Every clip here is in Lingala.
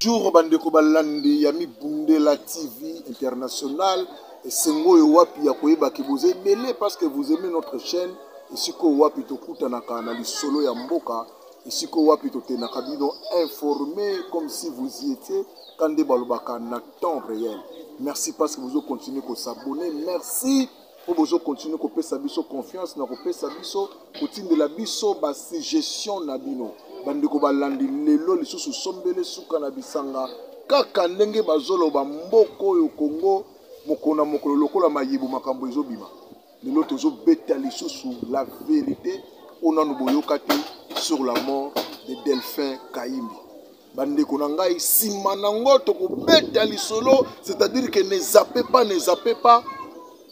Bonjour bandeko balandi ya Mibundela TV International esengo oyo wapi ya koyeba ke boza ebele parce que vous aimez notre chaîne esika oyo wapi tokutanaka na lisolo ya mboka esika oyo wapi totendaka bino informé comme si vous y étiez quand nde balobaka na temps réel merci parce que bozo continuer kosabonne merci mpo bozo continue kopesa biso confiance na kopesa biso kotindela biso basuggestion na bino bandeko balandi lelo lisusu sombele suka na bisanga kaka ndenge bazoloba mboka oyo kongo mokolo na mokolo lokola mayebo makambo ezobima lelo tozobeta lisusu la verite oyo nanu boyoka te sur la mort de delphin kayimbi bandeko na ngai nsima nango tokobeta lisolo c'est-à-dire que ne zappe pas ne zappe pas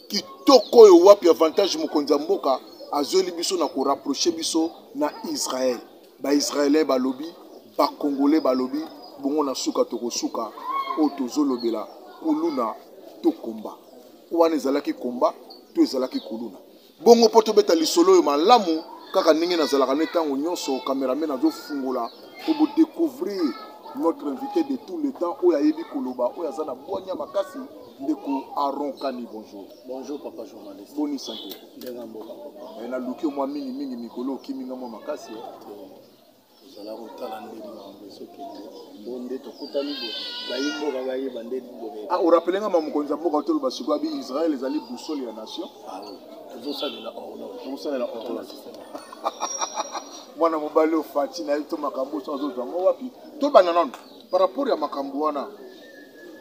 kitoko oyo wapi avantage mokonzi ya mboka azweli biso na korapproche biso na israel baisraelien balobi bakongole balobi bongo na suka tokosuka oyo tozolobela kuluna to komba wana ezalaki komba to ezalaki kuluna Bongo mpo tobeta lisolo oyo malamu kaka ndenge nazalaka ne ntango nyonso, cameraman azofungola mpo bo decouvrir notre invité de tout le temps oyo ayebi koloba, oyo aza na bwanya makasi, ndeko Aaron Kani, bonjour. Bonjour papa journaliste. Boni santé. Ndenga mboka papa. Eh, naluki yo mwa mingi mingi mikolo okimi nga mwa makasi. Eh. Tozala kotala nde mambo ezokende bo nde tokutani bo bayi mboka bayeba nde bobe. Ah, orapele nga ma mokonzi ya mboka otoloba sikoyo abi Israël ezali boussole ya nation. Ah, tozosalela horloge. Tozosalela horloge. mwana mobali oyo fati na ye to makambo oso azozwa yango wapi tobanda nano par rapport ya makambo wana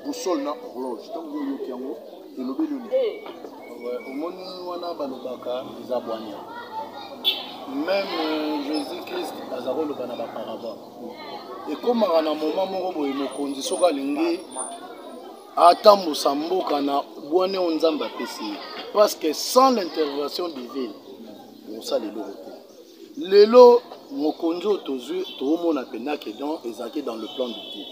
boussole na horloge ntango oyoki yango elobeli yo eh, omoni wana balobaka eza bwanya meme euh, jésus christ aza koloba na baparabole ekomaka na moma moko boye mokonzi soki alingi atambusa mboka na bwane oyo nzambe apesi ye parce que sans l'intervention divine mosala eloko te lelo mokonzi oyo tozwi toomona mpenza ke don ezalaki dans le plan de dieu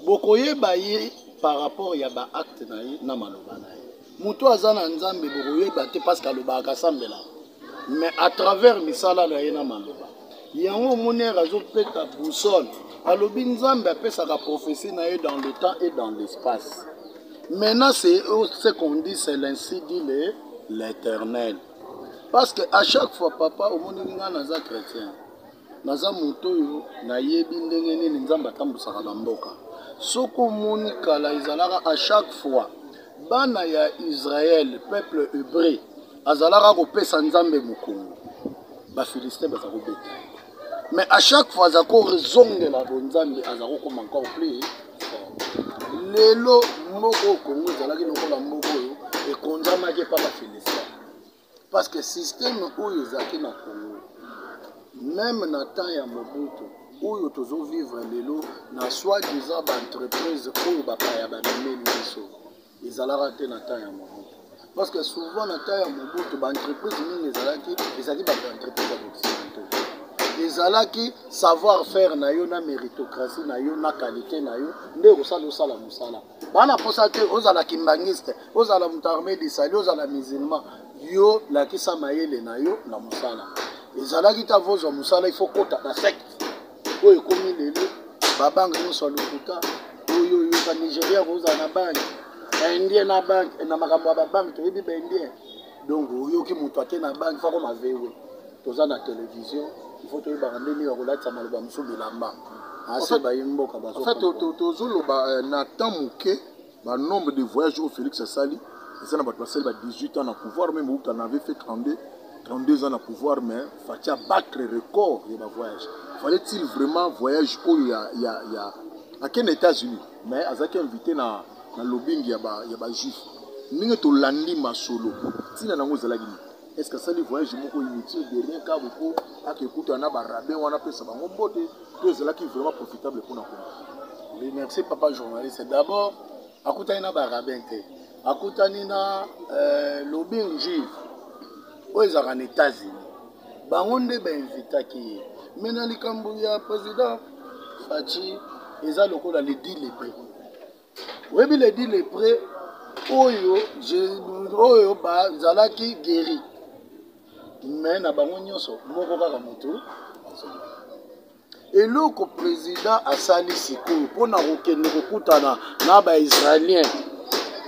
Bokoyeba ye par rapport ya ba actes na ye na maloba na ye. Mutu aza na Nzambe bokoyeba te parce que alobaka asambelaka mais à travers misala na ye na maloba. Yango omoni heure azopeta boussole alobi Nzambe apesaka prophetie na ye dans le temps et dans l'espace. Maintenant c'est ce qu'on dit c'est l'ainsi dit le l'Eternel. Parce que à chaque fois papa omoni nga naza chretien. Naza moto oyo nayebi ndenge nini nzambe atambusaka ba mboka soki omoni kala ezalaka a chaque fois bana ya israel peuple hebreu azalaka kopesa nzambe mokongo ba philistin baza kobeta mais a chaque fois aza kozongela bonzambe aza kokoma encore plus lelo moko oyo kongo ezalaki lokola moko oyo ekonzamaki epa ba philistin Parce que système oyo ezalaki na Congo, même na temps ya Mobutu, oyo tozo vivre lelo na soi-disant ba entreprises oyo bapaya bamemeli biso, ezalaka te na temps ya Mobutu. Parce que souvent na temps ya Mobutu, ba entreprises mingi ezalaki, ezalaki ba entreprises ya occidentaux. Ezalaki savoir faire na yo na méritocratie na yo na qualité na yo nde osala osala mosala. bana posa te ozala kimbangiste ozala moto arme desali ozala musulman yo lakisa mayele na yo na mosala ezalaki ta vozwa mosala ifo kota na secte oyo ekomi lelo babange nyonso ya lokuta oyo oyoka nigeria kozala na banke baindien na banke na makambo ya babanke toyebi baindien donc oyoki moto ake na banke fakoma vewe toza na television il faut toyebaka nde nini bakolatisa maloba mosusu bilamba ase bayi mboka bazotozoloba euh, na temps moke banombre de voyage oyo félix asali eza na bato basali ba 18 ans na pouvoir meme outa na avait fait 32 32 ans na pouvoir mais fati abattre record ya bavoyage fallait-il vraiment voyage oyo ya, ya, ya akende états-unis mais azalaki invité na, na lobingi ya bajuif ba ndenge tolandi masolo ntina nango ezalaki nini Est-ce que asali voyage moko inutile de rien car mpo ake kutana na ba rabbin wana pesa bango mbote to ezalaki vraiment profitable mpona kongo Oui, merci papa journaliste. D'abord, akutani na barabin te. Akutani na euh, lobing juive oyo ezalaka na États-Unis. Bango nde bainvitaki ye. Mais na likambo ya président Fatshi eza lokola lidi lepe. oyebi le dit le près oyo oyo bazalaki guéri mais na bango nyonso moko kaka motu eloko président asali sikoyo mpo na kokende kokutana na baisraélien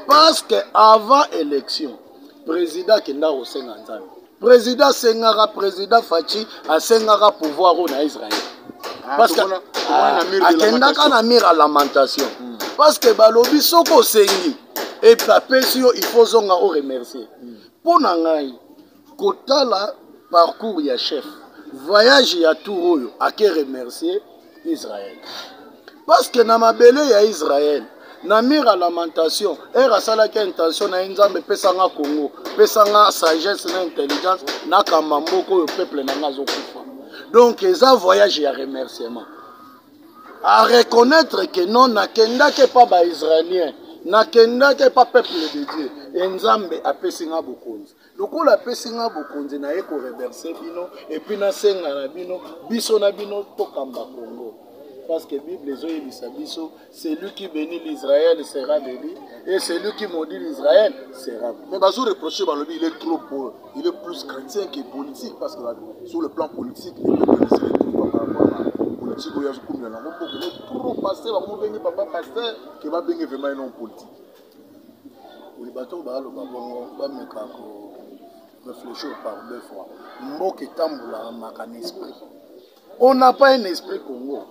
parce que avant élection président akenda kosenga nzambe President asengaka president Fatshi asengaka pouvoir oyo na Israël. Ah, Parce que ah, akendaka na mire ya lamentation. Hmm. Parce que balobi soki osengi epe apesi yo il faut ozonga o remercier. Hmm. Mpo na ngai kotala parcours ya chef voyage ya tour oyo ake remercier israel parce que na mabele ya israel na mire ya lamentation ere asalaki intention na ye nzambe epesa nga congo pesa nga sagesse na intelligence nakamba mboka oyo peuple na nga azokufa donc eza voyage ya remerciement à reconnaître que non nakendaki epa baisraélien nakendaki epa peuple de dieu e nzambe apesi nga bokonzi lokola apesi nga bokonzi na ye koreverse bino epuis nasenga na bino biso na bino tokamba kongo parce que bible ezoyebisa biso celui qui béni l'israël sera béni et celui qui maudit l'israël sera mais bazo reproche balobi il est trop pour il est plus chrétien que politique parce que sur le plan politique politique oyo azokumela nango mboka trop passe bango benge papa paster ke babenge vraiment enon politique Oui, bato oyo baloba bongo bameka ko réfléchir par deux fois. Mboka etambolaka maka na esprit. On n'a pas un esprit Congo.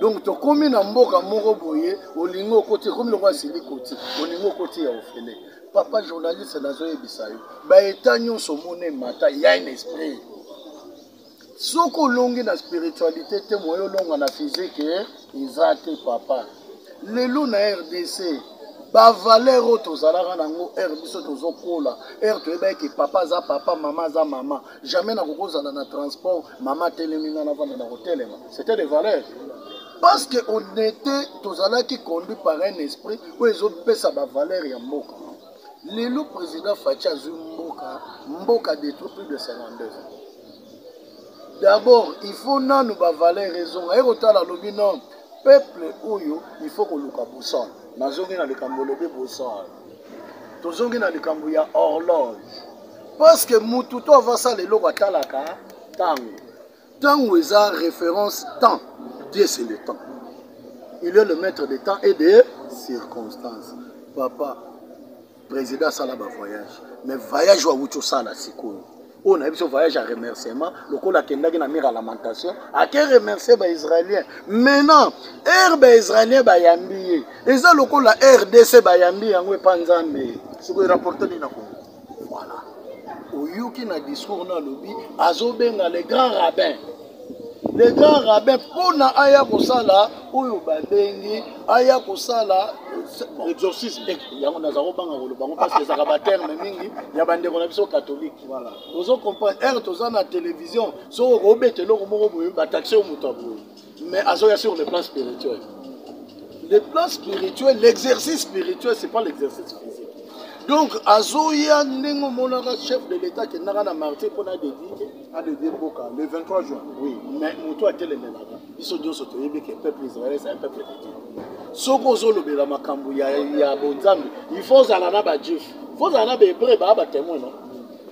Donc tokomi na mboka moko boye olingi okoti ekomi lokola sili koti olingi okoti ya ofele papa journaliste nazoyebisa yo baeta nyonso omona emata ya un esprit soki olongi na spiritualité te moye olonga na physique eh, eza te papa lelo na rdc bavaleur oyo tozalaka nango ere biso tozokola ere toyebaki ke papa aza papa mama aza mama jamais nakoki ozala na transport mama atelemi nga navanda na kotelema c'était des valeurs parce que on était tozalaki conduit par un esprit oyo ezopesa bavaleur ya mboka Lelo president Fatshi azui mboka, mboka detruit plus de 52 ans. D'abord, il faut nanu ba valeur ezonga. Aye kotala lobi non, peuple oyo il faut koluka boussole. Nazongi na likambo lobi boussole. Tozongi na likambo ya horloge. Parce que mutu to avasala eloko atalaka tango. Tango eza reference temps. Dieu c'est le temps. Il est le maître des temps et des circonstances. Papa, président asala ba voyage. Mais voyage wa wuti osala sikoyo. oyo nayebi so voyage ya remerciement lokola akendaki na mire ya lamentation ake remercie baisraélien maintenant ere baisraélien bayambi ye eza lokola rdc bayambi yango epa nzambe sikoyo rapporte nini na kongo Voilà. Oyoki na discours na lobi azobenga le grand rabbin. Le grand rabbin pona aya kosala oyo babengi aya kosala euh, exorcisme eh, yango naza kobanga koloba yango parce que ezalaka baterme mingi ya bandeko na biso catholique voilà. ozo comprendre ere toza na télévision soki okobeta eloko moko boye bataxe yo moto ya boye Mais azoya sur le plan spirituel. Le plan spirituel, l'exercice spirituel, c'est pas l'exercice physique. Donc azoya ndenge omonaka chef de l'État kendaka na martyr mpo na dedie adedie mboka le 23 juin. Oui, mais moto atelemelaka biso nyonso toyebi ke peuple israélien c'est un peuple de Dieu. Soki ozolobela makambo ya, ya bonzambe il faut ozala na bajuif faut ozala na bahébreu baa batemoin no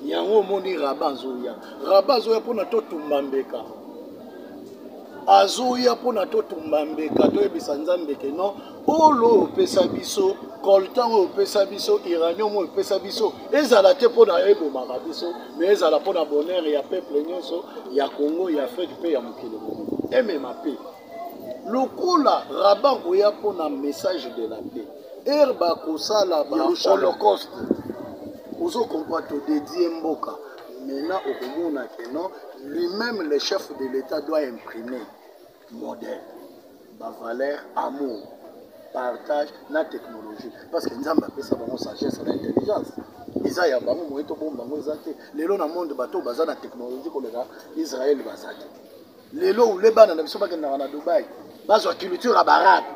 yango omoni raba azoya raba azoya mpona totumba mbeka Azoya pona to tumba mbeka to yebisa nzambe ke non olo oyo opesa biso coltan oyo opesa biso iranium oyo opesa biso ezala te pona ebomaka biso mais ezala pona bonheur ya peuple nionso ya Congo ya Afrique pe ya mokili mobimba emema pe lokola raban koya pona message de la paix ere bakosala ba holocaust ozo comprendre to dedie mboka Maintenant okomona que non, lui-même le chef de l'État doit imprimer modèle, ba valeur, amour, partage na technologie. Parce que Nzambe apesa bango sagesse na intelligence. eza ya bango moye tobomba yango eza te lelo na monde bato baza na technologie koleka israel baza te lelo ule bana na biso bakendaka na dubai bazwa culture ya barabe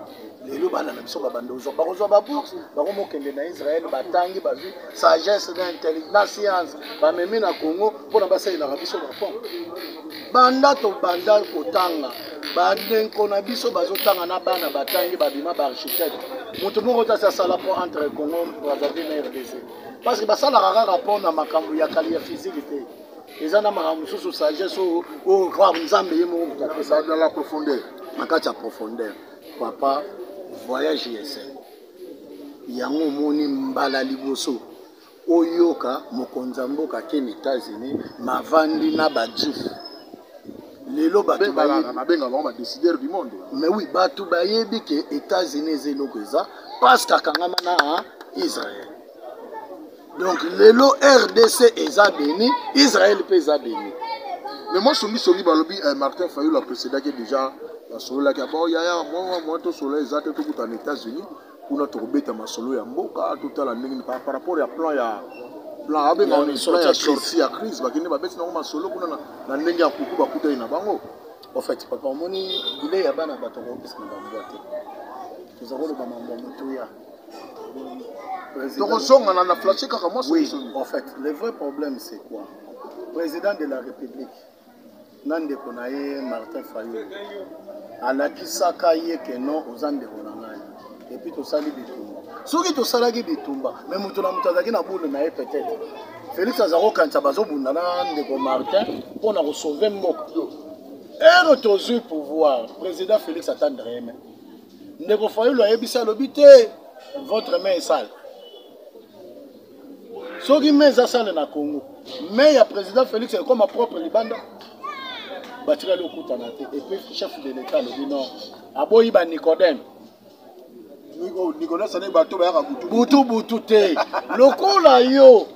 lelo bana na biso babanda ozwa bakozwa babourse bakomokende na israel batangi bazwi sagesse na intelligence na science bamemi na congo mpona basalelaka biso bafon banda tobanda kotanga bandeko na biso bazotanga na bana batangi babima baarchitecte moto moko te asi asala mpo entre congo brazzaville na rdc parce que basalaka kaka mpo na makambo ya kali ya physique te eza na makambo mosusu sagesse oyo oyo voir nzambe ye moko kutu apesa na la profondeur na kati ya profondeur papa voyage ya esengo yango omoni mbala liboso oyoka mokonzi ya mboka akende états-unis mavandi na bajif lelo bato babenga bango badécideur du monde mais oui bato bayebi ke états-unis eza eloko eza paske akangama na israel donc lelo rdc eza beni israel mpe eza beni mais mwa songisongi balobi eh, martin fayulu aprecedaki déjà basololaki abo yaya mwa mwa tosolola eza te tokuta na états-unis kuna tokobeta masolo ya mboka totala ndenge par rapport ya plan ya plan abenga plan ya sortie ya crise bakende babeti nango masolo kuna na ndenge ya kuku bakutani na bango en fait papa omoni bilei ya bana bato akokokisa na bambwa te toza koloba mambo ya motuya tokozongana na flashe kaka mwa somisoni en fait le vrai problème c'est quoi président de la république na ndeko na ye martin fayulu alakisaka ye ke non oza ndeko na ngai epuis tosali bitumba soki tosalaki bitumba me moto na moto azalaki na bule na ye peut-être félix aza kokanisa bazobunda na ndeko martin mpo na kosauve mboka ero tozwi pouvoir président félix atandreme ndeko fayulu ayebisi alobi te votre main esale soki main eza sale na congo main ya président félix ekoma propre libanda batikali okutana te epuis chef de l'état alobi non aboyi ba nicodème oh, butu butu te lokola yo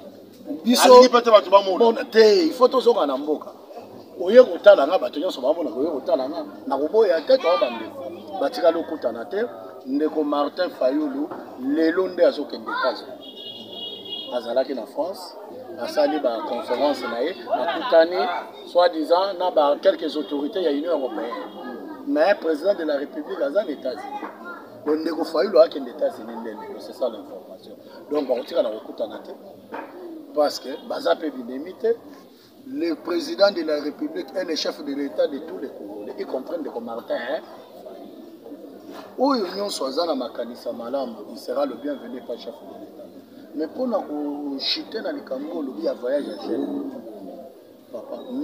biso mona te il faut tozonga na mboka oye kotala nga bato nyonso bamona koye kotala nga nakoboya te toa bandeko batikali okutana te ndeko martin fayulu lelo nde azokende etats azalaki na france asali baconférence na ye akutani soit disant na ba quelques autorités ya union européenne mais président de la république aza na états-unis ndeko fayulu akende états-unis nde lelo c'est ça l'information donc bakotikala kokutana te parce que baza mpe binemi te le président de la république est le chef de l'état de tous les congolais y compris ndeko martin hein? oyo nyonso aza na makanisa malamu il sera le bienvenu pa chef de l'état mais mpo na kochite na likambo olobi ya voyage ya gene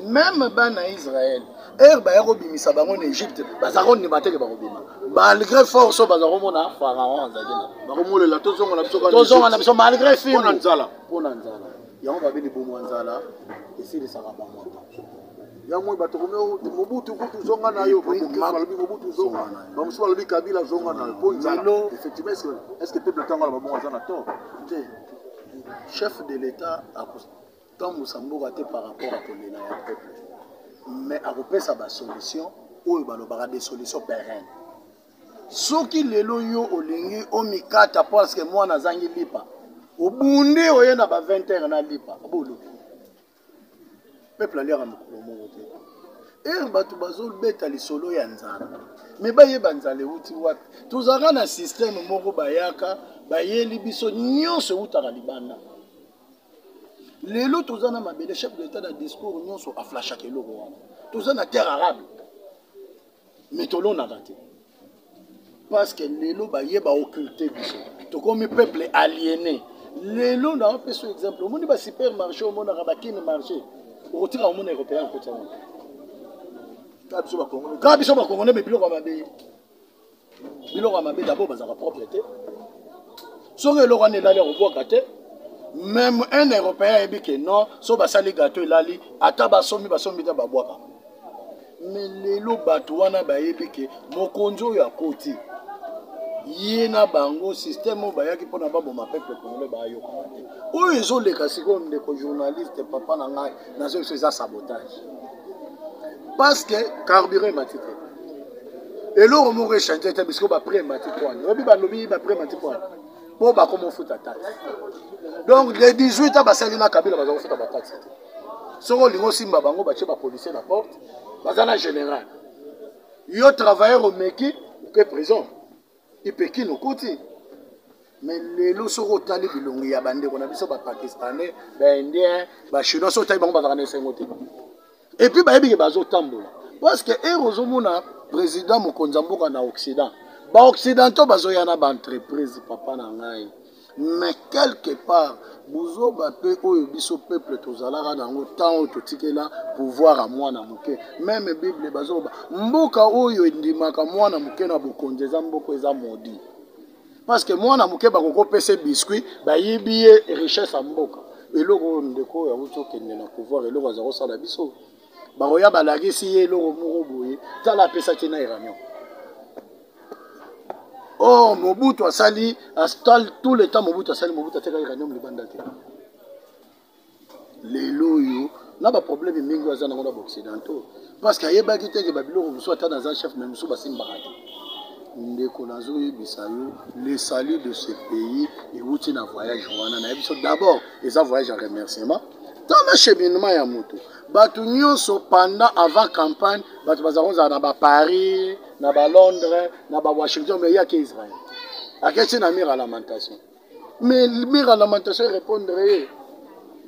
meme bana ya israel ere baya kobimisa bango na egypte baza kondima teke bakobima malgré force oyo baza komona pharaon azalaki na bakomolela tozonga na biso tozonga na biso malgré filmpona nzala mpona nzala yango babe libumu ya nzala esilisaka bango yango bato komi oh, mobutu kutu zonga na yo balobi mobutu zonga bamosusu balobi kabila zonga na yo mpo nzala effectivement est ce que peuple ntango ala babongo aza na tort te chef de l'état Tambusa mboka te par rapport à kolela ya peuple. Mais akopesa ba solution oyo balobaka des solutions pérennes. Soki lelo yo olingi omikata parce que mwana azangi lipa. Obunde oye na ba 20 heures na lipa. Boluki. Peuple aliaka mokolo moko te. ere bato bazobeta lisolo ya nzala me bayeba nzala euti wapi tozalaka na systeme moko bayaka bayeli biso nyonso eutaka libanda lelo toza na mabele chef de l'etat na discours nyonso aflashaka eloko wana toza na terre arable mais tolonaka te parce que lelo baye baocculte biso tokomi peuple aliéné lelo na opesa exemple omoni ba supermarché omonaka bakini marché okotika omona européen akoti yango kaka biso bakongole kaka biso bakongole me biloko ya mabe biloko ya mabe dabord bazalaka propre te soki eloko wana elali akobwaka te meme un européen ayebi ke non so basali gato elali ata basombi basombi te babwaka me lelo bato wana bayebi ke mokonzi oyo akoti ye na bango systeme oyo bayaki mpona baboma peuple congolais bayokana te oyo ezoleka sikoyo ndeko journaliste papa na ngai nazoyebisa eza sabotage parce que carburant emati te eloko moko echange te bisiko bapre emati pwani oyebi balobi bapre emati pwani mpo bakoma ofuta taxe donc le 18 a basali na kabila baza kofuta bataxe te soki olingi osimba bango batye bapolicier na porte baza na général yo travailleur omeki oke prison ipekine okoti me lelo soki otali bilongi ya bandeko na biso bapakistanais baindien bachinois soki otali bango bazalaka na esengo te epuis bayebike bazotambola parce que ere ozomona président mokonzi ya mboka na occident baoccidentaux bazoya na baentreprise papa na ngai mais quelque part buzoba mpe oyo biso peuple tozalaka na yango ntango oyo totikela pouvoir ya mwana moke meme bible bazoba mboka oyo endimaka mwana moke na bokonzi eza mboka eza modi parce que mwana moke bakokopesa biscuit bayibi ye richesse ya mboka eloko oyo ndeko oyo awuti okende na pouvoir eloko aza kosala biso bakoya balakisi ye eloko moko boye tala apesaki na iranion or mobutu asali astal tout le temps mobutu asali mobutu atekaki ranium libanda te lelo oyo na baproblème mingi oyo aza nango na baoccidentaux parce que ayebaki te ke babiloko mosusu ata naza chef me mosusu basimbaka te ndeko nazoyebisa yo le salut de ce pays ewuti na voyage wana naye biso d'abord eza voyage ya remerciement tala cheminement ya moto bato nyonso pendant avant campagne bato bazala kozala na baparis na ba londres na ba washington mais yaki israel akesi na mire ya lamentation mais mire ya lamentation erépondre ye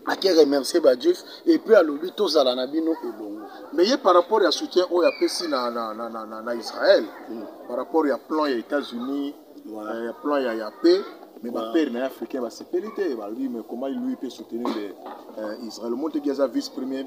ake remercie bajuif epuis alobi tozala na bino elongo mais ye par rapport ya soutien oyo apesi na, na, na, na, na, na israel mm. par rapport ya plan ya états-unis voilà. euh, ya plan ya, ya paix mais voilà. bapere na ye africain basepeli te balobi mais comment lui peut soutenir le, euh, israel omonteki aza vice premier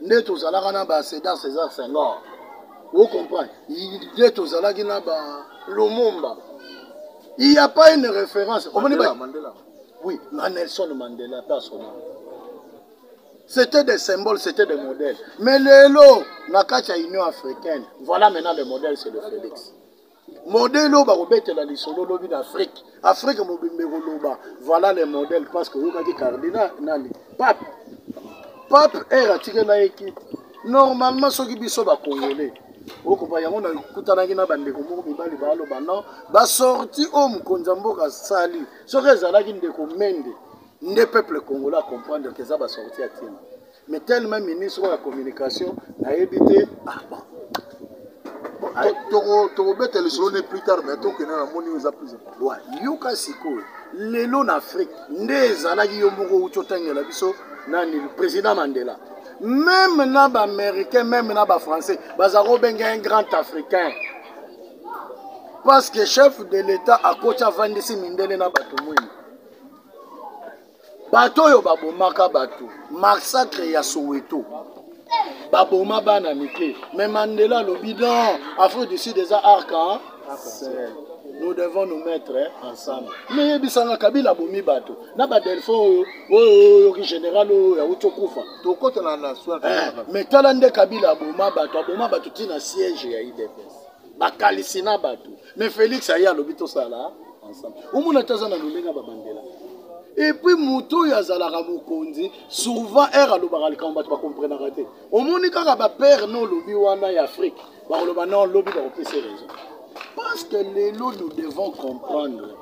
nde tozalaka na ba cedar césar senghor o comprendre nde tozalaki na ba lumumba il y a pas une référence omoni ba oui na nelson mandela personnel c'était des symboles c'était des modèles mais lelo na kati ya union africaine voilà maintenant le modèle c'est le félix modele oyo bakobetela lisolo lobi na afrique afrique mobimba ekoloba voilà le modèle parce que oyokaki cardinal nani pape pape ere atikela ye ki normalement soki biso bacongolais okoba yango nakutanaki na bandeko moko mibali baloba non basorti oyo mokonzi ya mboka asali soki ezalaki ndeko mende nde peuple congolais acomprendre ke eza basorti ya ntina mais tellement ministre oyo ya communication nayebi te ah, tokobeta lisolo ne plus tard mais tokende na moni eza plus yoka sikoyo lelo na afrique nde ezalaki yo moko outi otangela biso nani président mandela meme na baaméricain meme na bafrançais baza kobenga un grand africain parce que chef de l'état akoti avandisi mindele na bato mwini bato oyo babomaka bato massacre ya soweto baboma bana mike mais mandela alobi non afrique du sud eza arca nous devons nous mettre ensemble mais yebisanga kabila abomi bato na badelfo oyo oyo oyoki général oyo yauti okufa tokotana na soi eh, mais tala nde kabila aboma bato aboma bato ntina siège ya idps bakalisi na bato mais félix aye alobi tosala ensemble omona te aza na lolenge ya babandela epuis moto oyo azalaka mokonzi souvent ere alobaka likambo bato bakomprenaka te omoni kaka bapere no olobi wana ya afrike bakoloba non lobi bakopesa raison parce que lelo nous devons comprendre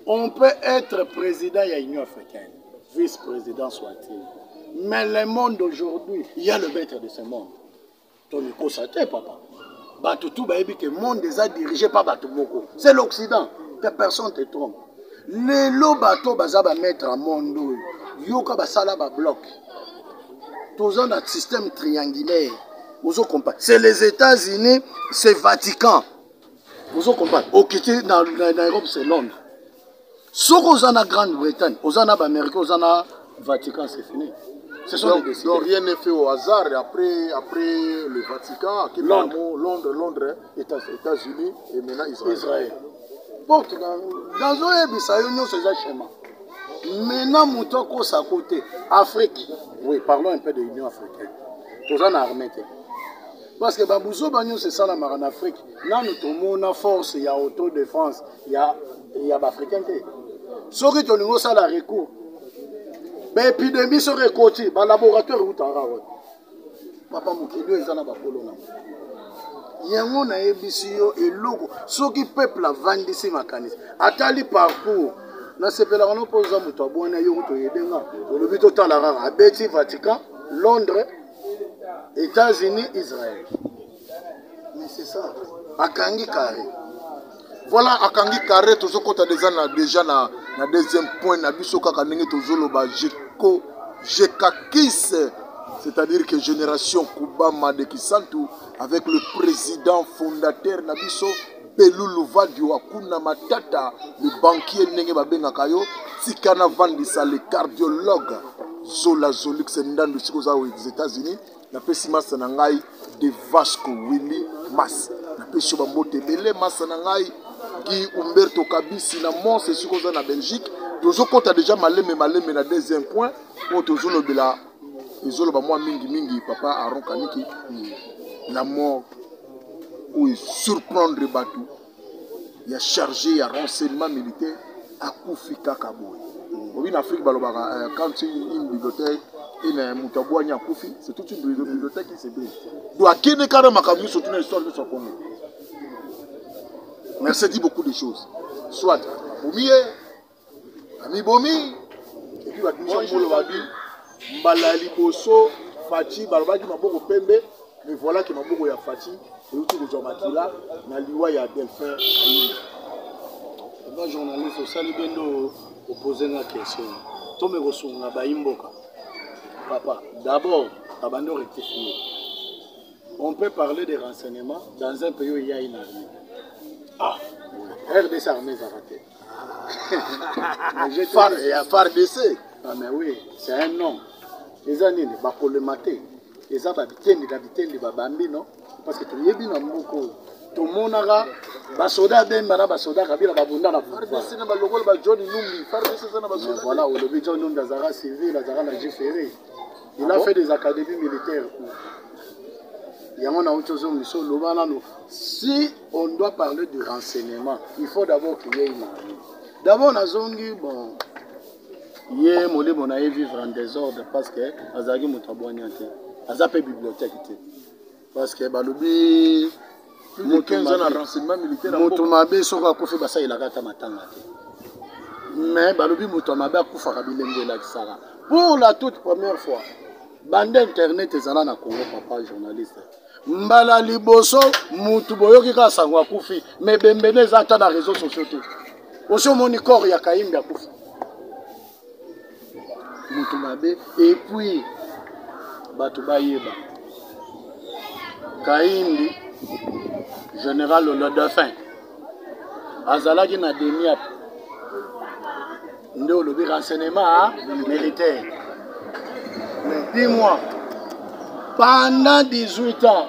on peut être président ya union africaine vice-président soit-il mais le monde aujourd'hui il y a le maître de ce monde tomikosa te papa bato tu bayebi ke monde eza dirige pa bato moko c'est l'occident que personne te trompe lelo bato baza bamaître ya monde oyo yoka basala babloc toza na système triangulaire ozo comprendre c'est les états-unis c'est vatican ozo comprendre okiti na, na, na europe c'est londres soki oza na grande bretagne oza na baaméricain oza na vatican c'est fini ce sont donc, des décideurs. donc rien n'est fait au hasard après après le vatican akende Londres. yango londres londres États- états-unis et maintenant israël israel po nazoyebisa yo nyonso eza shema mena moto akosa ko te afrique oui parlons un peu de union africaine toza na armée te Parce que babuzoba nyonso esalamaka na Afrique nanu tomona force ya auto de France ya, ya baafricain te soki tolingi osala recours baepidemie soki ekoti balaboratoire eutaka wapi papa mokili oyo eza na bakolo nango yango nayebisi yo eloko soki peuple avandisi makanisi atali parcours nasepelaka no mpo oza moto abwana yo kutoyedenga olobi totala kaka abeti vatican londres États-Unis, Israël. Mais c'est ça. Akangi carré. Voilà akangi carré tozokota déjà na déjà na na deuxième point na biso kaka ndenge tozoloba jeko jekakis c'est-à-dire que génération Kubama de Kisantu avec le président fondateur na biso Pelulu vadio akuna matata le banquier ndenge babengaka yo tika na vandisa le cardiologue zola zolix ndandu siko oza aux États-Unis napesi masta na ngai de Vasco Willy Mas napesi yo bambote ebele masta na ngai Guy Umberto Kabisi na Mons esiko oza na Belgique tozokɔta deja malembe malembe na deuxième point oyo tozolobela ezoloba mwa mingi mingi papa Aaron Kaniki la mort oyo esurprendre bato ya charge ya renseignement militaire akufi kaka boye obi na afrique balobaka euh, quand une bibliothèque ena moto abwani akufi c'est toute une bibliothèque qui se brise do akende kaka na makambo nyonso tuna histoire nyonso ya congo merci dit beaucoup de choses soit bomiye amibomi epuis batumisa mokolo babi mbala ya liboso faci balobaki maboko pembe me voilà ke maboko ya faci euti kozwa makila na liwa ya delphin ayini ba journaliste osali be nde opose nga question tome kosunga bayi mboka papa d'abord abandi orectifie on peut parler de renseignement dans un pays oyo eyai na armée ah rdc armée ezaka te ya fardc ah, mais oui c'est un nom eza nini bakolema te eza babitendi na bitendi babambi no parce que toyebi na mboka oyo tomonaka basoda abemba na basoda kabila babunda na voilà olobi john numbi azalaka civil azalaka na jefere il a ah fait des académies militaires yango nauti ozongisa oloba nano si on doit parler du renseignement il faut d'abord qu'il y ait une armée d'abord nazongi bon ye molimo na ye vivre en désordre parce que azalaki moto abwania te aza mpe bibliothèque te parce que balobi moto mabe soko akufi basalelaka ata matanga te mais balobi moto ya mabe akufaka bilembo elakisaka pour la toute première fois bande internet ezala na congo papa journaliste mbala liboso mutu boyoki kaka sango akufi me bembene eza ata na réseau sociaux te osi omoni corps ya kayimbi akufi mutu mabe epuis bato bayeba kayimbi général le dauphin azalaki na demiap nde olobi renseignement militaire mais dis moi pendant 18 ans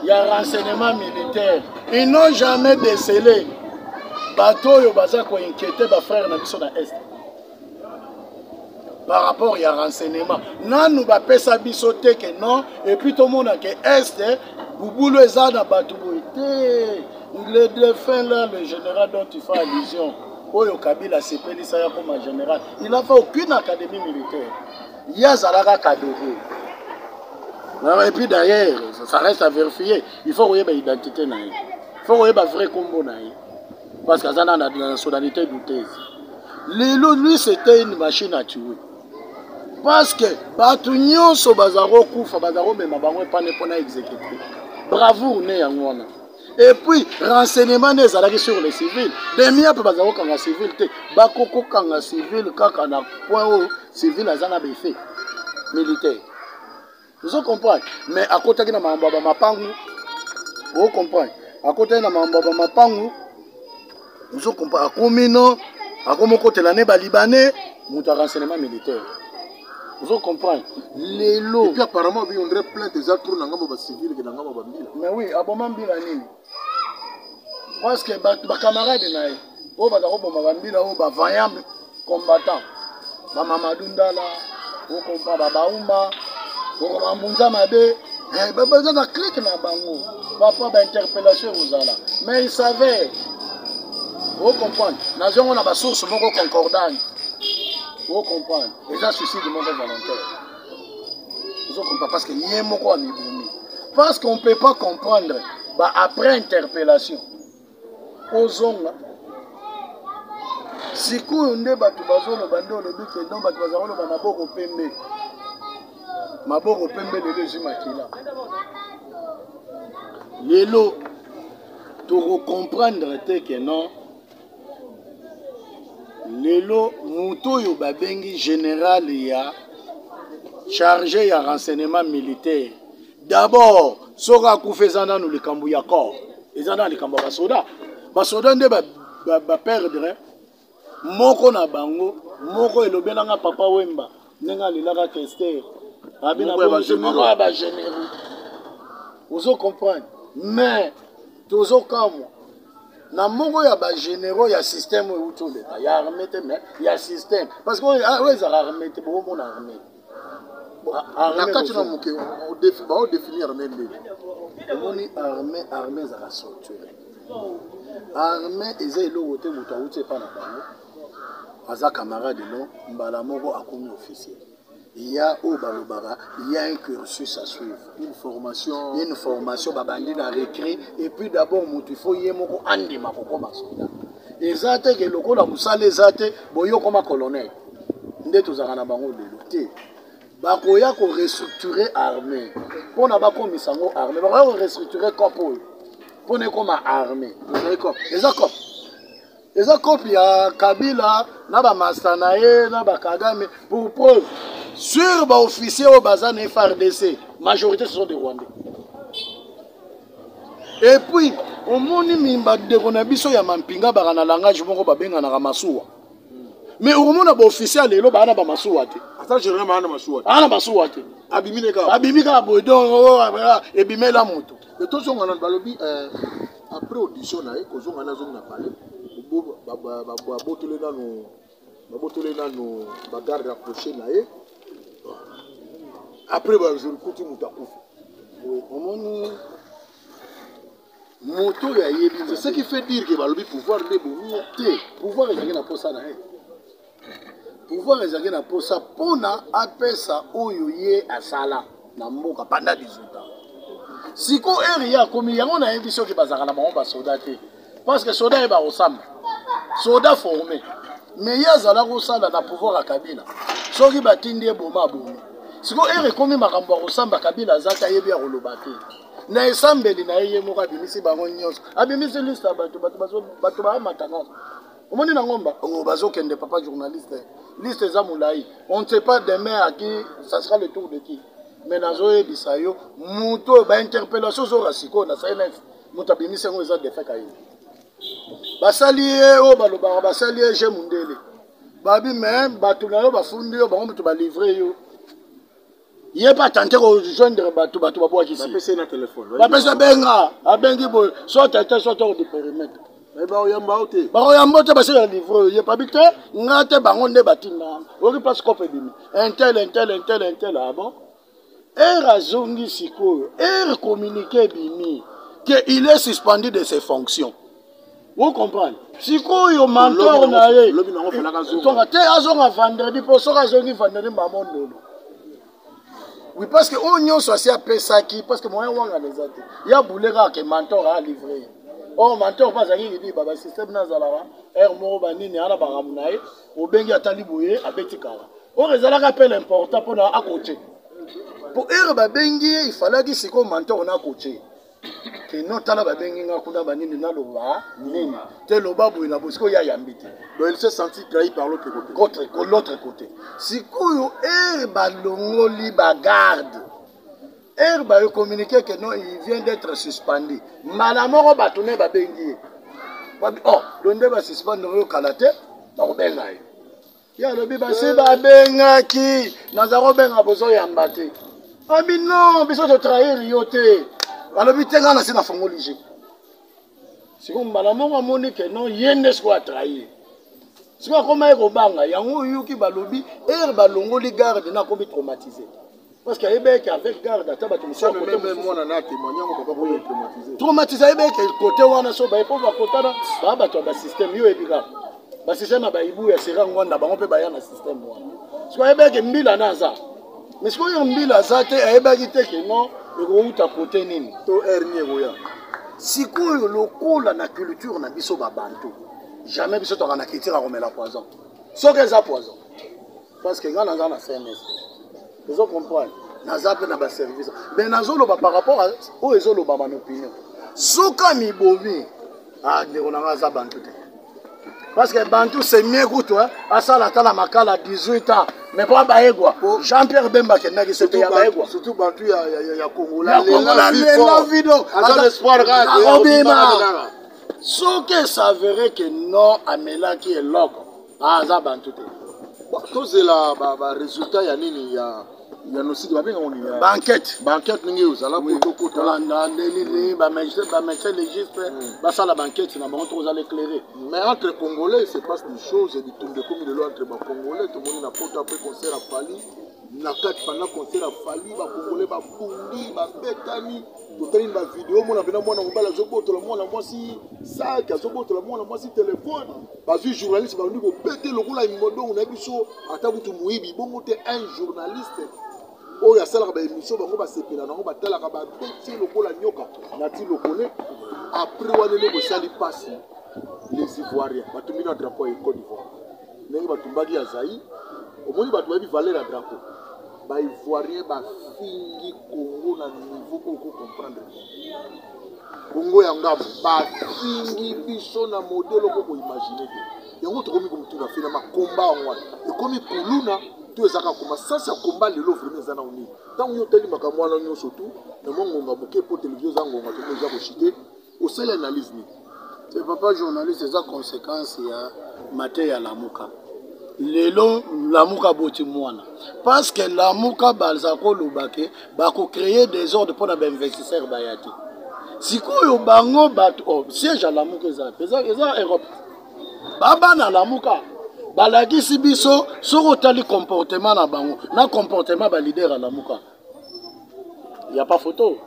ya renseignement militaire ils n'ont jamais décelé bato oyo baza koinquiete bafrère na biso na est par rapport ya renseignement nanu bapesa biso te ke non epuis tomona ke este bubulu eza na bato boye te le défunt là le général dont tu fais allusion oyo kabila asepelisa ya koma général il a fait aucune académie militaire ye azalaka kadogo et puis d'ailleurs ça reste à vérifier il faut koyeba identité na ye il faut koyeba vrai kombo na ye parce que aza na nationalité douteuse lelo lui c'était une machine à tuer parce que bato nyonso baza kokufa baza komema bango epane mpo na exécuté bravoure ne yango wana epuis renseignement nde ezalaki sur le civil demia mpe baza kokanga civil te bakokokanga civil kaka na point oyo civil aza na befe militaire ozo comprendre mais akotaki na makambo ya bamapangu o comprendre akotaki na makambo ya bamapangu ozo comprendre akomi no akomi okotela ne balibanais moto ya renseignement militaire ozo comprendre lelo apparemment biyondre plainte eza trop na ngambo bacivile ke na ngambo bambila mais oui aboma mbila nini parce que bato bacamarade na ye oyo baza koboma bambila oyo bavaillant combattant bamamadu ndala okompa babauma okoma mbunza mabe eh, baza na clike na bango papa bainterpellation ekozala mais il savait ocomprendre nazo yango na basource moko concordane ocomprendre eza suicide moko volontaire ozo comprendre parce que ye moko amibomi parce qu'on peut pas comprendre ba après interpellation ozonga sikoyo nde bato bazoloba nde olobi ke don bato baza koloba maboko pembe maboko pembe lelo ezwi makila lelo tokokomprendre te ke non lelo moto oyo babengi general ya charge ya renseignement militaire d'abord soki akufa eza nano likambo ya corps eza na likambo ya basoda basoda nde baperdre ba, ba moko na bango moko elobelanga papa wemba ndenge alelaka kester abi na bongo ya bagenero ozo comprendre mais tozokamwa na moko ya bagenero ya système oyo euti oleka ya arme te mais ya système parce que oyo ah, ezala arme te bokomona arme na kati na moke baodefini arme nde omoni arme arme ezala structure arme eza eloko te moto auti epa na bango aza camarade no mbala moko akomi officier il y a oyo balobaka il y a un cursus à suivre une formation une formation babandi na recrue et puis d'abord moto il faut ye moko andima kokoma soldat eza te ke lokola mosala eza te boye okoma colonel nde tozalaka na bango lelo te bakoya korestructure armée mpo na bakomisa yango armée bakoya korestructure cop oyo mpo na ekoma armée eza cop eza kopi ya kabila na bamasta na ye na bakagame pour preuve sur baofficier oyo baza na frdc majorité ce sont des rwandais et puis omoni bandeko na biso ya mampinga baka na langage moko babenganaka masuwa mais okomona baofficier ya lelo baa na bamasuwa te aa na masuwa te abimi kaka boye donc oh, ah, ah, ah, ebimela moto etozongana balobi euh, Après audition na ye kozonga na zongi na palais babotole nanu babotole nanu bagarde rapproché na ye après bajour kuti moto akufi omoni moto oyo ayebi c'est ce qui fait dire que balobi pouvoir nde bomi te pouvoir ezalaki na mposa na ye pouvoir ezalaki na mposa mpona apesa oyo ye asala na mboka banda 18 ans siko ere ye akomi yango nayebi soki bazalaka na bango basoda te parce que soda ye bakosamba soda forme mais ye azala kosala na pouvoir ya kabila soki batindi ye boma abomi siko ere ekomi makambo ya kosamba kabila aza te ayebi ya koloba te na esambeli na ye ye moko abimisi bango nyonso abimisi liste ya bato bato baamata nyonso omoni na ngomba oh, bazokende papa journaliste liste eza molai on ne sait pas demain à qui ça sera le tour de qui mais nazoyebisa yo moto oyo bainterpellation ozora sikoyo na cns moto abimisi yango eza defe kayini basali ye oyo balobaka basali ye je mondele babi me bato na yo bafundi yo bango moto balivre yo ye mpe atante kojoindre bato bato babwakisibapesi abenga abengi boye soit tete soit oko deperimetre bakoyamba te basala livre oyo yepabi te nga te bango nde batinda oki place cope ebimi intel intel intel intel abo ah ere azongi sikoyo ere communique ebimi que il est suspendu de ses fonctions o comprendre sikoyo mentor na ye tonga te azonga vendredi mpo soki azongi vendredi mbamo ndolo oui parce que oyo nyonso asi apesaki parce que moyen wangana eza te ya bule kaka ke mentor alivre ye or mentor mpe azalaki libiba basysteme na azalaka heure moko banini ana bakamu na ye obengi atali boye abeti kala or ezalaka mpe l'important mpona akote mpo heure babengi ye ifalaki sikoyo mentor na akote kino tala babengi nga kuna banini naloba nini te loba boye na bosiko ye ayambi te donc il se senti trahi par l'autre côté contre l'autre côté sikoyo ere balongoli bagarde ere bayo communiqué que non il vient d'être suspendu mbala moko bato naye babengi ye o oh, lo nde basuspendre oyo kala te bakobenga ye ye alobi basi babengaki naza kobenga bozoyamba te abi non biso totrahir yo te alobi te ngai nasi nafongoli je sikoyo mbala moko amoni ke non ye nde sikoyo atrahir sikoyo akomaki kobanga yango oyoki balobi ere balongoli garde na akomi traumatise Parce que Ebeke avec garde ata bato mosusu côté même mwana na témoigner ngo papa boye traumatisé. Traumatisé Ebeke côté wana so ba epo ba kotana ba bato ba système yo ebika. Ba système ba ibu ya sera ngwanda bango pe ba ya na système wana. Parce que Ebeke mbila na za. Mais ce qu'on mbila za te ayebaki te que non ekouta côté nini. To hernie ekoya. Sikoyo lokola na culture na biso ba bantu. Jamais biso tokana kitira komela poison. Soki eza poison. parce que nga naza na cns ozo comprendre naza mpe na baservice mais nazoloba par rapport oyo ezolobama na opinion suka mibomi ah, ndeko na nga aza bantu te parce que bantu c'est mieux kutu asala ata na makala 18 ans mais mpo abayegwa jean pierre bemba akendaki soki ya bayegwa surtout bantu ya kongola lela vido akobima soki esavere ke non amelaki eloko Ah, aza bantu te. Tozela ba, ba résultat ya nini ya ya nosiki babenga ngo nini banquete banquete ndenge ozala kotokota olanda ndeli nini bamagistrat légiste basala banquete na bango toko ozala éclairé mais entre congolais se passe des choses bitumba ekomi lelo entre bacongolais tomoni na poto apres concert afali na kati panda concert ya fali bakongole babundi babetani totali ba video mona mpena mwana mobali azobotola mwana mwasi saki azobotola mwana mwasi telefone bazwi journaliste bandi kobete lokola imodongo na biso ata kutu moyibi bongo te un journaliste oyo asalaka baémission bango basepela nango batalaka babeti lokola nyoka nati lokole apres wana eloko esali mpasi les ivoiriens batumbi na drapeau ya ecole d'ivoire ndenge batumbaki ya Zaïre omoni bato bayebi valeur ya drapeau ba ivoirien bafingi Congo na niveau oyo ko comprendre Congo ya ngambo bafingi biso na modele oko ko imaginer te yango tokomi komituna fina makomba yango wana ekomi kuluna to ezalaka koma sasi ya komba lelo vraimen eza na onini ntango yo otali makambo wana nyonso tu na mwa ngonga moke mpo televizio eza ngonga tokoza koshite Osali analyse nini? Mais papa journaliste eza consequence ya mateya lamuka lelo lamuka boti mwana parce que lamuka baza koloba ke bakocreye desordre mpo na bainvestisseur baya te sikoyo bango bato oh, siège ya lamuka eza eza, eza europe babana lamuka balakisi biso soki otali comportement na bango na comportement balider ya lamuka ya pa photo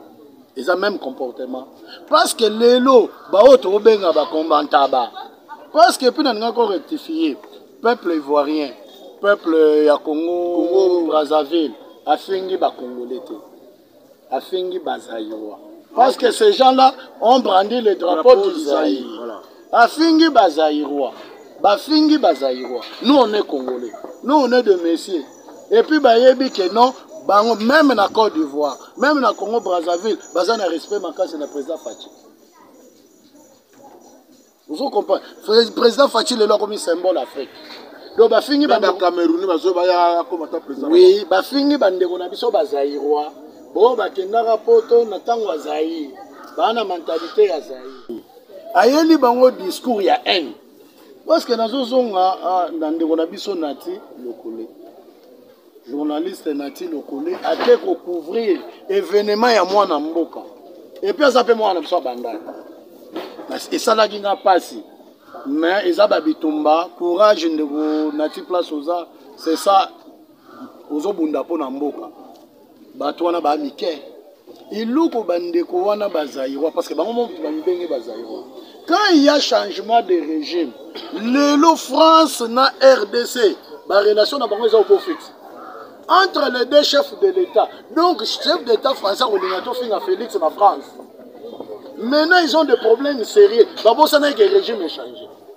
eza même comportement parce que lelo baoyo tokobenga bacombantaba parce que mpe nalinga ko rectifie peuple ivoirien peuple ya congo brazzaville afingi bacongolais te afingi bazaïrois parce que ces gens là ont brandi le drapeau du zaïre afingi bazaïrois bafingi bazaïrois nous on est congolais nous on est de messier et puis bayebi que non bango meme na Côte d'Ivoire meme na Congo Brazzaville baza na respect makasi na président Fatshi ozo comprendre président Fatshi lelo akomi symbole Afrique donc bafingi bacamerouni bazo baya akoma ta président oui bafingi bandeko na biso bazairois bo bakendaka poto na ntango ya zaire baa na mentalite ya zaire ayeli bango discours ya haine Presque nazozonga ah, na ndeko na biso Nati Lokole. Journaliste Nati Lokole ake ko couvrir événement ya mwana mboka. Et puis aza pe mwana na biso abanda. Esalaki nga pasi. Mais eza ba bitumba, courage ndeko Nati place oza, c'est ça ozobunda mpo na mboka. bato wana ba amike eloko bandeko wana bazairoi parce que bango moto bamibenge bazairoi quand il y a changement de régime lelo france na rdc barelation na bango eza oko fixe entre les deux chefs de l'état donc chef d'état français akolinga tofinga félix na france maintenant ils ont des problèmes sérieux babosanaki ke régime echange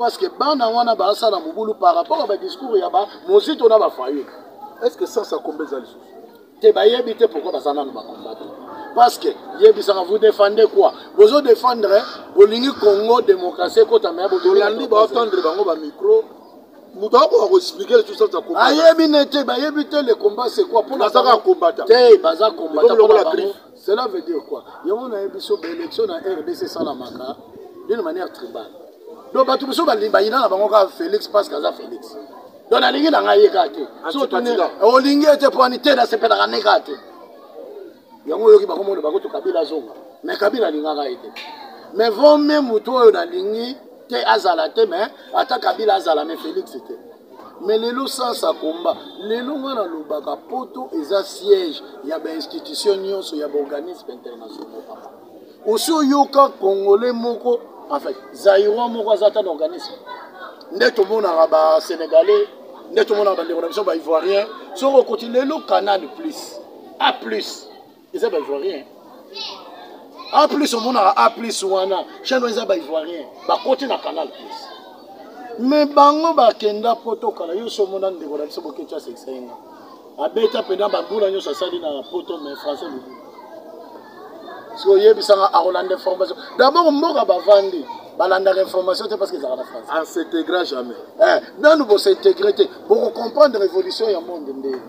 parce que bana wana basala mobulu par rapport ya badiscours ya bamozito na bafayulu est ce que sans akomba eza lisusu te bayebi te pourkoi baza nano bakomba te parce que yebisaka vous défendez quoi bozo défendre bolingi congo démocratie ekota me bolandi baotendre bango bamicro moto akoka koexplike lisusu sans akomba ayebi ne te bayebi te le combat c'est quoi mpo nazaka kombata te baza kombata lokola griffe Cela veut dire quoi? Yango na yebi so ba election na RDC esalamaka d'une manière tribale. Donc bato mosusu bayina na bango kaka Felix parce que aza Felix. Donc nalingi na ngai ye kaka te. Olingi ete mpo ani te nasepelaka ne kaka te. Yango oyoki bakomona bakutu Kabila azonga. Mais Kabila alingaka ye te. Mais vaut mieux moto oyo nalingi te azala te mais ata Kabila azala mais Felix te. mais lelo sasa combat lelo nga nalobaka poto eza siège ya bainstitution nyonso ya baorganisme internationaux papa osi oyoka congolais moko enfin zairois moko aza ata na organisme nde tomonaka basénégalais nde tomonaka bandeko na biso baivoirien soki okoti lelo canal plus a plus eza ba ivoirien a plus omonaka a plus wana chaine wana eza ba ivoirien bakoti na canal plus me bango bakenda poto kala yo so omona ndeko na biso boketya sekisayenga abeta mpena bambula nyonso asali na poto me français lobi soki oyebisanga akolanda information dabord mboka bavandi balandaka information te parce que ezalaka na france en s'integra jamais eh, nanu bosintegre te bokocomprendre révolution ya monde ndenge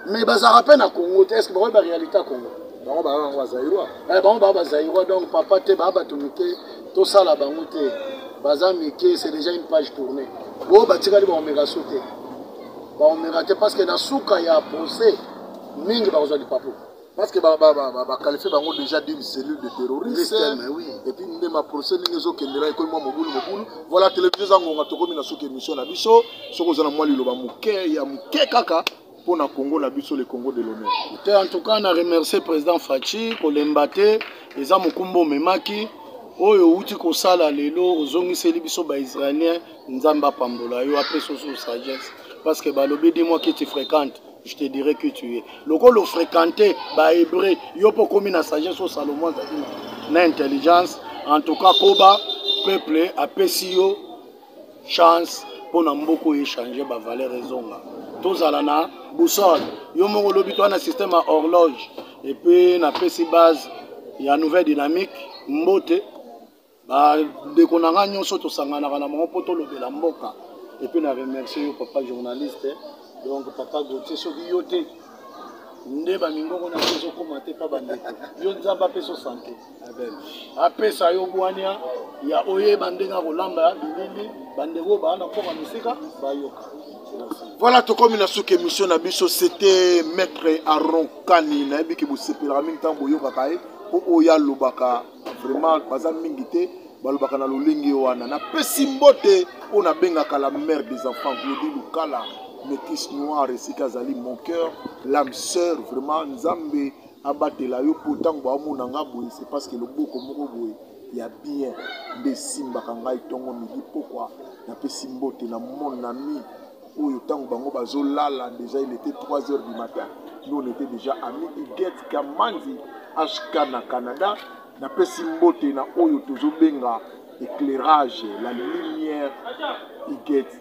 mais bazalaka mpe na congo te estce bakoyeba réalité ya congo bango baa bango bazairois eh, bango baa bazairois donc papa te baa bato mike tosala bango te baza mike c'est déjà une page tournée oyo batikali baomeka so te baomeka te parce que na suka ya procès mingi bakozwa lipapu parce que baqualifie bango déjà d'une cellule de terroriste et puis nde maprocès ndenge ezokendela ekomi mwa mobulu mobulu voilà télévision eza ngonga tokomi na suka émission na biso soki oza na mwa liloba moke ya moke kaka mpo na congo na biso le congo de l'honneur te en tout cas na remercie président faci kolemba te eza mokumba omemaki oyo outi kosala lelo ozongiseli biso baisraélien nzambe apambola yo apesa osusu sagesse parce que balobi de moi qui tu fréquente je te dirai qui tu es lokola ofréquente bahébreu yo mpo okomi na sagesse oyo salomon azali na intelligence en tout cas koba peuple apesi yo chance mpo na mboka oyo echange bavaleur ezonga tozala na boussole yo moko olobi toa na système ya horloge epuis napesi base ya nouvelle dynamique mbote bandeko na ngai nyonso tosanganaka na bango mpo tolobela mboka epuis na remercie yo papa journaliste donc papa gautier soki yo te nde bamingongo na yo ezokoma te mpa bandeko yo nzambe apesa sante apesa yo bwania ya oyeba ndenge akolamba ya bilili bandeko baa na mpoka mosika bayoka voilà tokomi na suki émission na biso c'était maître aron kani nayebi ke bosepelaka mingi ntango boyokaka ye mpo oyo alobaka vraiment baza mingi te balobaka na lolenge wana napesi mbote oyo nabengaka la mère des enfants glodi lukala métis noir esika azali mon cœur lame sœur vraiment nzambe abatela yo po tango baomona nga boye c'est parce que loboko moko boye ya bien nde esimbaka ngai ntongo midi pokwa napesi mbote na mon ami oyo ntango bango bazolala deja il était 3 heures du matin nous on était déjà ami iget kamanzi hk na canada napesi mbote na oyo tozobenga éclairage la lumière iget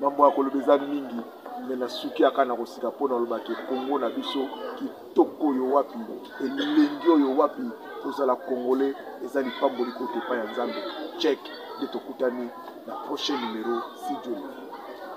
Mambo ya koloba eza mingi mais na suki aka na kosika mpo naloba ke Congo na biso kitoko oyo wapi, elengi oyo wapi, kozala congolais eza lipamboli kouta epai ya Nzambe. Check nde tokutani na prochain numero si Dieu le veut.